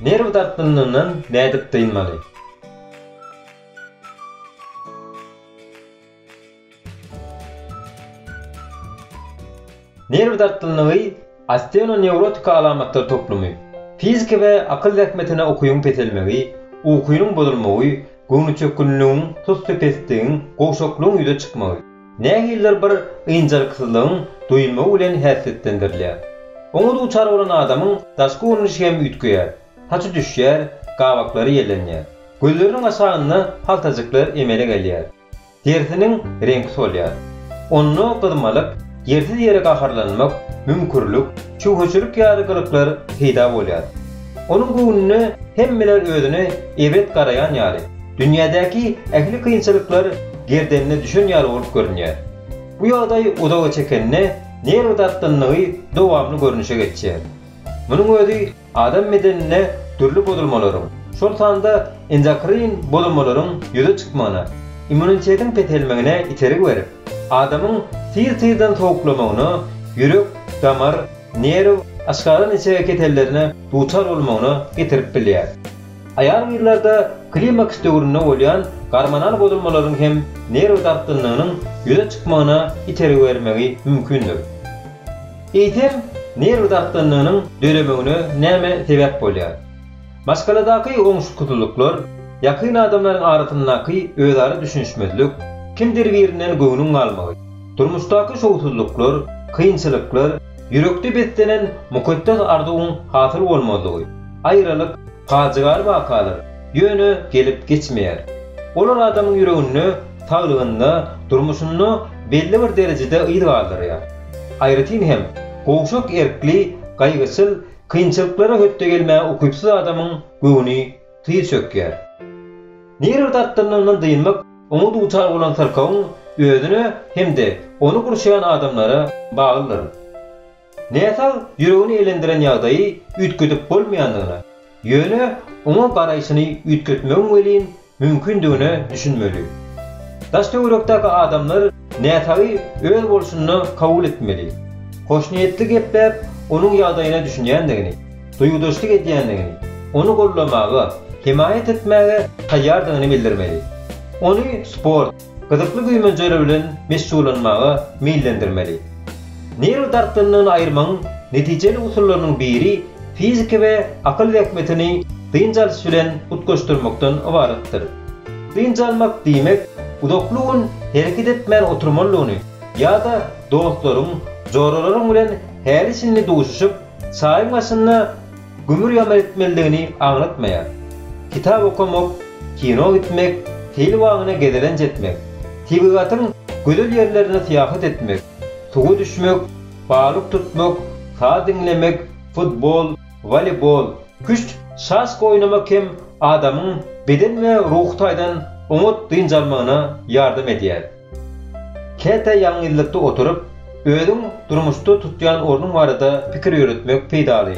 Nerw dartgynlygyndan nädip dynmaly? Nerw dartgynlygy osteonewrotika alamatlar toplumy. Fiziki we akyl zähmetine ukyň peselmegi, ukynyň bozulmagy, göwnüçökgünligiň, tusly-pesligiň, gowşaklygyň ýüze çykmagy. Nähilidir bir ynjalyksyzlygyň duýulmagy bilen häsiýetlendirilýär. Oňa duçar bolan adamyň daşky görnüşi hem üýtgeýär, saçy düşýär, gabaklary ýellenýär, gözleriniň aşagynda haltajyklar emele gelýär, derisiniň reňki solýar. Onda gyzmalyk, ýersiz ýere gaharlanmak, müňkürlik, şübheçilik ýaly gylyklar peýda bolýar. Onuň göwnüne hemmeler özüne eýbet garaýan ýaly, dünýädäki ähli kynçylyklar gerdenine düşen ýaly bolup görünýär. Bu ýagdaý uzaga çekende, nerw dartgynlygy dowamly görnüşe geçýär. Munuň özi adam bedeninde dürli bozulmalaryň, şol sanda endokrin bozulmalaryň ýüze çykmagyna, immunitetiň peselmegine itergi berip, adamyň tyz-tyzdan sowuklamagyna, ýürek, damar, Nerw aşgazan içege kesellerine duçar bolmagyna getirip bilýär. Aýal-gyzlarda klimaks döwründe bolýan gormonal bozulmalaryň hem nerw dartgynlygynyň ýüze çykmagyna itergi bermegi mümkindir. Eýsem, nerw dartgynlygynyň döremegine näme sebäp bolýar? Maşgaladaky oňşuksyzlyklar, ýakyn adamlaryň arasyndaky özara düşünişmezlik, kimdir birinden göwnüň galmagy, Durmuşdaky şowsuzlyklar, kynçylyklar, ýürekde beslenen mukaddes arzuwyň hasyl bolmazlygy, aýralyk, pajygaly wakalar, ýöne gelip geçmeýär. Olar adamyň ýüreginde, saglygynda, durmuşynda belli bir derejede yz galdyrýar. Aýratyn hem, gowşak erkli, gaýgyçyl, kynçylyklara hötde gelmäge ukypsyz adamyň göwni tyz çökýär. Nerw dartgynlygyndan dynmak Oňa dutar bolan syrkawyň özüne hem-de ony gurşaýan adamlara baglydyr. Näsag ýüregini elendiren ýagdaýy üýtgedip bolmaýandygyna, ýöne oňa garaýşyny üýtgetmegiň welin mümkindigine düşünmeli. Daş-töwerekdäki adamlar. Näsagy öz bolşunda kabul etmeli. Hoşniýetli gepläp, onuň ýagdaýyna düşünýändigini, duýgudaşlyk edýändigini, ony goldamaga, hemaýat etmäge taýýardygyny bildirmeli. Ony sport, gyzykly güýmenjeler bilen meşgullanmaga meýillendirmeli. Nerw dartgynlygyny aýyrmagyň netijeli usullarynyň biri fiziki we akyl zähmetini dynç alyş bilen utgaşdyrmakdan ybaratdyr. Dynç almak diýmek, uzakly gün hereket etmän oturmalydygyny ýa-da dostlaryň, joralaryň bilen häli-şindi duşuşyp, çaýyň başynda gümür-ýamyr etmelidigini aňlatmaýar. Kitap okamak, kino gitmek, seýil bagyna gezelenç etmek, tebigatyň gözel ýerlerine syýahat etmek, suwa düşmek, balyk tutmak, saz diňlemek, futbol, Woleýbol, küşt, şaşka oýnamak hem adamyň beden we ruhy taýdan oňat dynç almagyna ýardam edýär. Käte ýalňyzlykda oturyp, özüň durmuşda tutýan ornuň barada pikir ýöretmek peýdaly.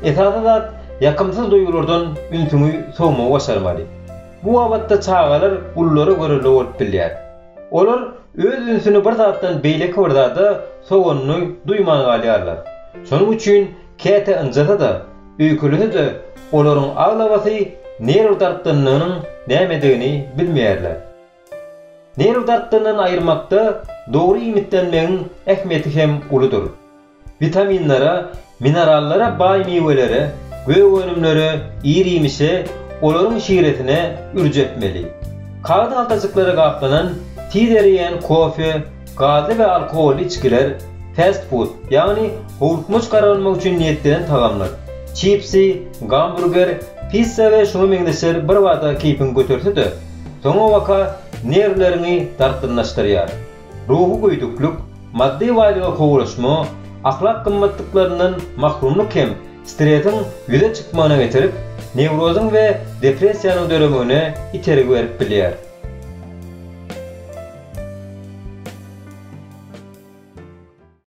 Esasy zat, ýakymsyz duýgulardan ünsüňi sowmagy başarmaly. Bu babatda çagalar ululary görelde bolup bilýär. Olar öz ünsüni bir zatdan beýleki bir zada sowanyny duýman galýarlar. Şonuň üçin käte ynjasa-da, öýkelese-de olaryň aglabasy nerw dartgynlygynyň nämedigini bilmeýärler. Nerw dartgynlygyny aýyrmakda dogry iýmitlenmegiň ähmiýeti hem uludyr. Witaminlere, minerallara baý miwelere, gök önümlere, ir-iýmişe, olaryň şiresine ürç etmeli. Kagyz haltajyklara gaplanan, tiz ereýän kofe, gazly we alkogolly içgiler, fast-food, ýagny howlukmaç garalmak üçin niýetlenen tagamlar, çipsi, gamburger, pissa we şuňa meňzeşler birbada keýpiňi göterse-de, soňabaka nerwleriňi dartgynlaşdyrýar. Ruhy göýdüklik, maddy baýlyga kowulaşma, ahlak gymmatlyklaryndan mahrumlyk hem stresiň ýüze çykmagyna getirip, newrozyň we depressiýanyň döremegine itergi berip bilýär.